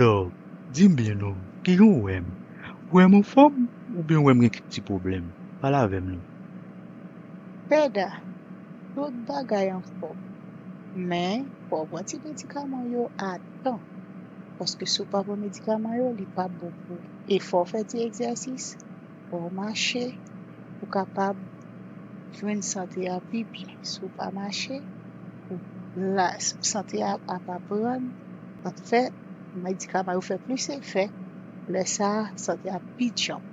Dog, dim byen non, kijan ou wèm? Ou wèm anfòm oubyen ou wèm gen kèk ti pwoblèm? Pale avèm non. Pèda, tout bagay anfòm, men fò ou pran ti medikaman yo a tan, paske si ou pa pran medikaman yo li pap bon pou ou. E fò ou fè ti egzèsis. Fò w mache pou w kapab jwenn sante a pi byen. Si w pa mache, sante a ap aprann, ap fè medikaman yo fè plis efè, lè sa a sante a ap pi djanm.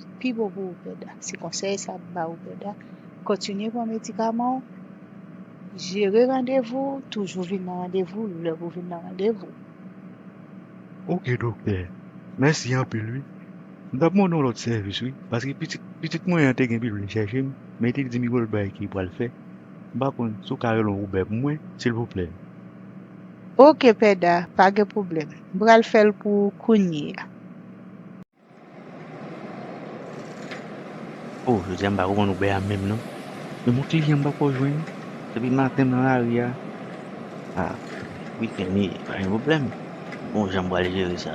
Li pi bon pou ou Pèda, se konsèy sa m ba ou Pèda, kontinye pran medikaman w, jere randevou w, toujou vin nan randevou w lè pou w vin nan randevou w. Ok doktè, mèsi anpil wi. M tap mande yon lòt sèvis wi paske pitit pitit mwen an te gen pi vle chèche m men te di m gon lòt bagay ki pral fè m pa konn si w ka rele yon Uber pou mwen silvouplè. Ok pè Da, pa gen pwoblèm. M pral fè l pou ou kounyeya. Oh jodia m pa konprann Uber a menm non. Men bon kliyan m pako jwenn depi maten m nan lari a. Ah wi Kenny pa gen pwoblèm m gon jan m pral jere sa.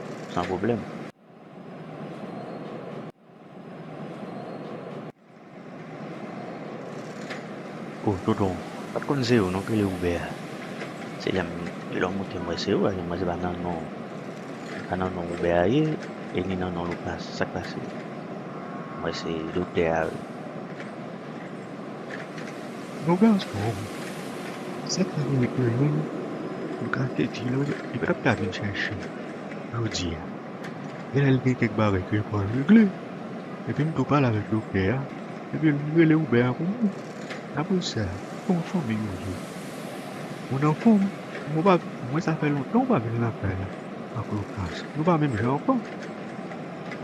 San pwoblèm. Oh tonton pat konn se ou non ki rele Uber a se lèm lèm moute m wè se ou a lèm wè se pa nan non se pa nan non Uber a ye e ni nan non Lucas sak pase m wè se doktè a wi Yon gason se pa yon moun ou ka te di lan e pa ta vin chèche jodi a. Genlè li gen kèk bagay ke li pral regle epi m tou pale avèk doktè a epi m rele Uber a pou mwen. Apre sa, se yon fanmi nou ye. Mwen anfòm, mwen pa, mwen sa fè lontan mwen pa vin lakay la ak Lucas. Nou pa menm jan ankò.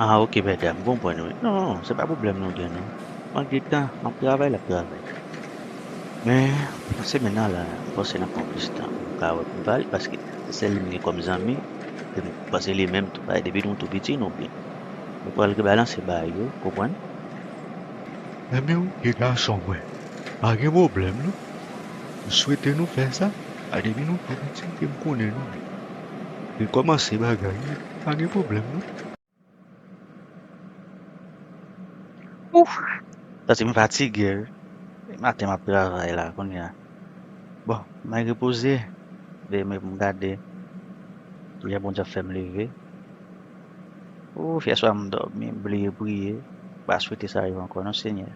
Ah ok bèda m konprann wi non se pa pwoblèm nou gen non mank de tan map travay lap travay men nan semèn nan la m panse nap pran plis tan pou m ka wè pou m ka ale paske se sèl li m gen kòm zanmi e m panse li menm tou paske depi nou tou piti nou byen nou pral rebalanse bagay yo konprann Zanmi w ki gason mwen pa gen pwoblèm non m swete nou fè sa paske depi nou tou piti e m konnen nou byen. Vin komanse bagay pa gen problem non. Ouff santi m fatige wi e maten map travay la kounya bon may repoze veye mwen poum gade kilè Bondye ap fèm leve ouff yèswa m dòmi m bliye priye m pa swete sa rive ankò non senyè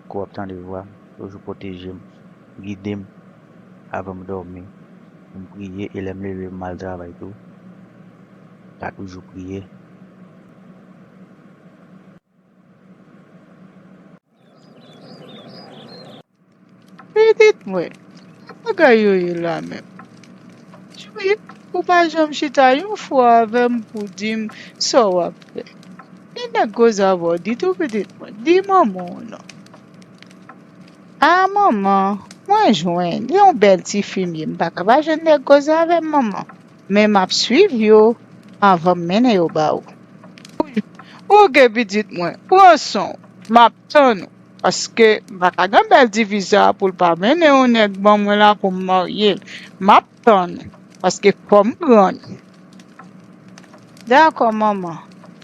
kou wap tande vwam toujou pwotejem. gidem avanm dòmi pou m priye e lèm leve m al travay tou pa toujou priye. Pitit mwen, ki bagay yo ye la menm? Jwi, ou pa janm chita yon fwa avè m pou w di m sa w ap fè. Gen nèg koze avè w di tou pitit mwen, di manman w non. Ah manman mwen jwenn yon bèl ti fimye m paka pa jwenn nèg koze avèm manman men map swiv yo avanm mennen yo ba ou ok pitit mwen pran sonw map tann ou paske m paka gen bèl ti fi sa poul pa mennen yon nèg ban mwen la poum maryel map tann ou paske fòm grann. Dakò manman,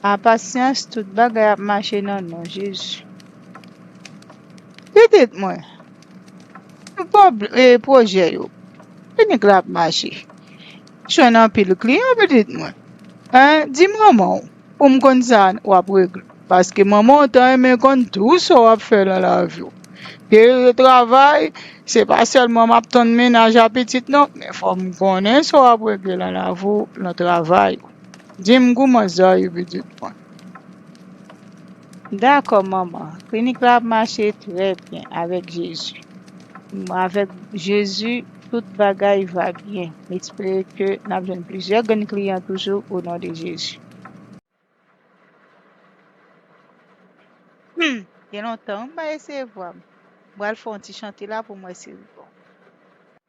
a pasyans tout bagay ap mache nan non Jezi. Pitit mwen, sou pwòp pwojè yo, klinik la ap mache. Ou jwenn anpil kliyan pitit mwen. Di manman w pou m konn sa w ap regle paske manman w ta renmen konn tou sa w ap fè nan lavi w. Ke se travay, se pa sèlman m ap tann mennaj a pitit non, men fò m konnen sa w ap regle nan lavi w, nan travay ou. Di m kouman sa ye pitit mwen. Dakò manman, klinik la ap mache trè byen avèk Jezi. Avèk Jezi tout bagay va byen. M espere ke n ap jwenn plizyè grenn kliyan toujou o non de Jezi. Humm gen lontan wi m pa eseye vwa m. M pral fè yon ti chante la pou m wè si l bon.